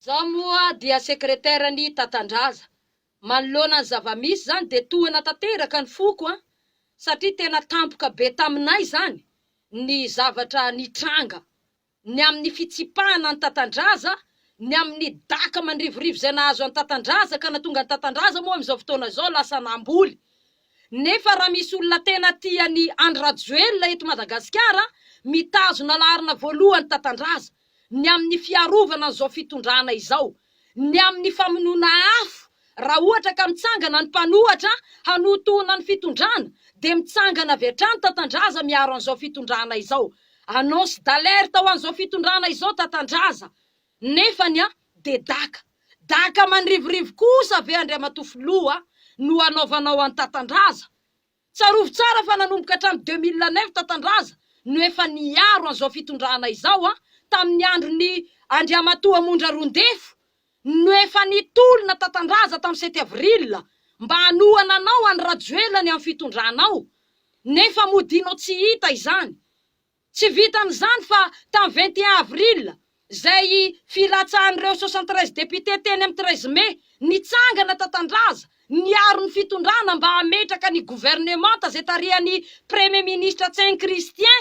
Zah moa dia secretaire ny Tatandraza, manoloana ny zava-misy zany dia tohana tanteraka ny foko an! satria tena tampoka be taminay zany ny zavatra nitranga, ny amin'ny fitsipahana an'i Tatandraza, ny amin'ny daka mandrivorivo izay nahazo an'i Tatandraza ka natonga an'i Tatandraza moa amin'izao fotoana izao lasa namboly. Nefa raha misy olona tena tia an'i Andry Rajoelina eto Madagasikara, mitazona laharana voalohany Tatandraza. ny amin'ny fiarovana an'izao fitondrana izao, ny amin'ny famonoana afo, raha ohatra ka mitsangana ny mpanohatra hanotoana ny fitondrana dia mitsangana avy hatrany Tatandraza miaro an'izao fitondrana izao, annonce d'alerte ho an'izao fitondrana izao Tatandraza, nefany a, dia daka, daka mandrivorivo kosa ve Andriamatoa Filoha no hanaovanao an'i Tatandraza? Tsarovy tsara fa nanomboka hatramin'ny deux mille neuf Tatandraza no efa niaro an'izao fitondrana izao an, tamin'ny andron'i Andriamatoa Mondra Rondefo no efa nitolona Tatandraza tamin'ny sept avril mba hanohana anao an'i Rajoelina ny amin'ny fitondrana ao nefa mody inao tsy hita izany Tsy vitan'izany fa tamin'ny vingt et un avril, izay filatsahan'ireo soixante treize députés teny amin'ny treize mai, nitsangana tatandraza, niaro ny fitondrana mba hametraka ny governemanta izay tarihan'ny Premier Ministre Ceng Christian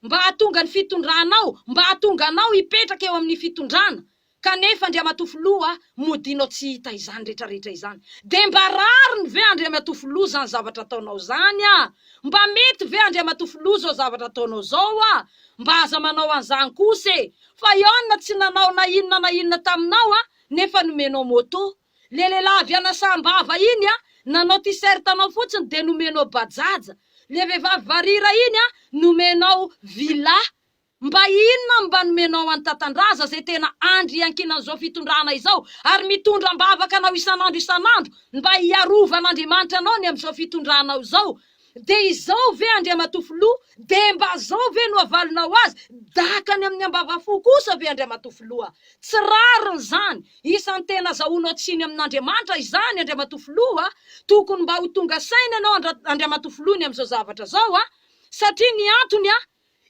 mba hahatonga ny fitondrana ao, mba hahatonga anao hipetraka eo amin'ny fitondrana. Kanefa Andriamatoa Filoha Modiano tsy hita izany rehetra rehetra izany dia mba rariny ve Andriamatoa Filoha izany zavatra ataonao izany a? Mba mety ve Andriamatoa Filoha izao zavatra ataonao izao a? Mba aza manao an'izany kosa e! Fa ianona tsy nanao na inona na inona taminao a? Nefa nomenao moto. Le lehilahy avy an'Asambava iny a, nanao t-shirt anao fotsiny dia nomenao bajaj. Le vehivavy varira iny a, nomenao villa. Mba inona no mba nomenao an'i Tatandraza izay tena andry iankinan'izao fitondrana izao ary mitondra am-bavaka anao isan'andro isan'andro mba hiarovan'Andriamanitra anao ny amin'izao fitondranao izao dia izao ve Andriamatoa Filoha dia mba zao ve no havalonao azy daka any amin'ny ambavafo kosa ve Andriamatoa Filoha tsy rariny izany isan'ny tena azahoanao tsiny amin'Andriamanitra izany Andriamatoa Filoha a tokony mba ho tonga saina ianao Andriamatoa Filoha ny amin'izao zavatra zao a satria ny antony a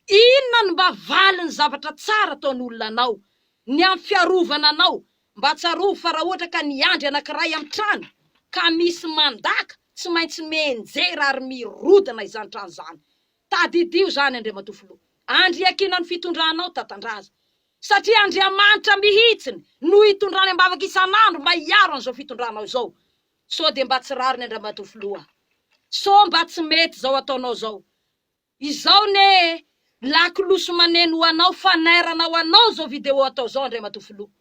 Inona no mba valin'ny zavatra tsara ataon'olona anao? Ny amin'ny fiarovana anao. Mba tsarovy fa raha ohatra ka niandry anankiray amin'ny trano ka misy mandaka, tsy maintsy mienjera ary mirodana izany trano izany. Tadidio izany Andriamatoa Filoha. Andry iakina ny fitondranao Tatandraza. Satria Andriamanitra mihitsiny no hitondrany am-bavaka isan'andro mba hiaro an'izao fitondranao izao. Sao dia mba tsy rariny Andriamatoa Filoha a. Sao mba tsy mety izao ataonao izao. Izao ne lakolosy maneno ho anao fanairana ho anao zao vidéo atao zao Andriamatoa Filoha.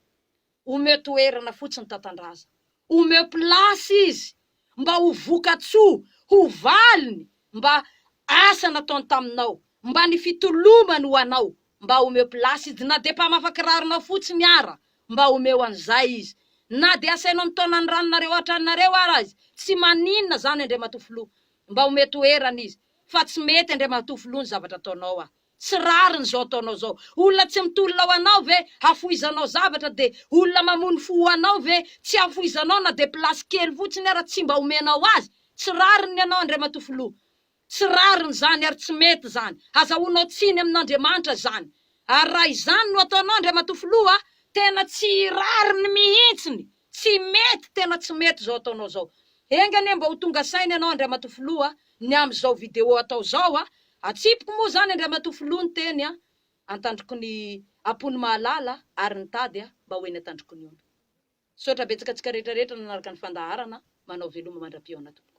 Omeo toerana fotsiny Tatandraza. Omeo place izy mba ho vokatsoa, ho valiny mba asa nataony taminao, mba ny fitolomany ho anao. Mba omeo place izy na dia mpamafa kiraronao fotsiny ara mba omeo an'izay izy. Na dia asainao mitaona ny ranonareo hatranonareo ara izy tsy maninona zany Andriamatoa Filoha. Mba omeo toerana izy. fa tsy mety Andriamatoa Filoha ny zavatra ataonao a! Tsy rariny izao ataonao izao. Olona tsy mitolona ho anao ve hafohizanao zavatra dia olona mamono fo ho anao ve tsy hafohizanao na dia place kely fotsiny ara tsy mba omenao azy? Tsy rariny ny anao Andriamatoa Filoha. Tsy rariny izany ary tsy mety izany. Azahoanao tsiny amin'Andriamanitra izany. Ary raha izany no ataonao Andriamatoa Filoha a! Tena tsy rariny mihitsiny. Tsy mety tena tsy mety zao ataonao zao. Enga anie mba ho tonga saina ianao Andriamatoa Filoha a, ny amin zao video atao zao a, atsipiko moa zany Andriamatoa Filoha ny teny a, antandriko ny Apony mahalala ary ny tady a, mba ho eny antandrikony ony. Misaotra betsaka antsika rehetra rehetra nanaraka ny fandaharana, manao veloma mandra-pihaona tompoko.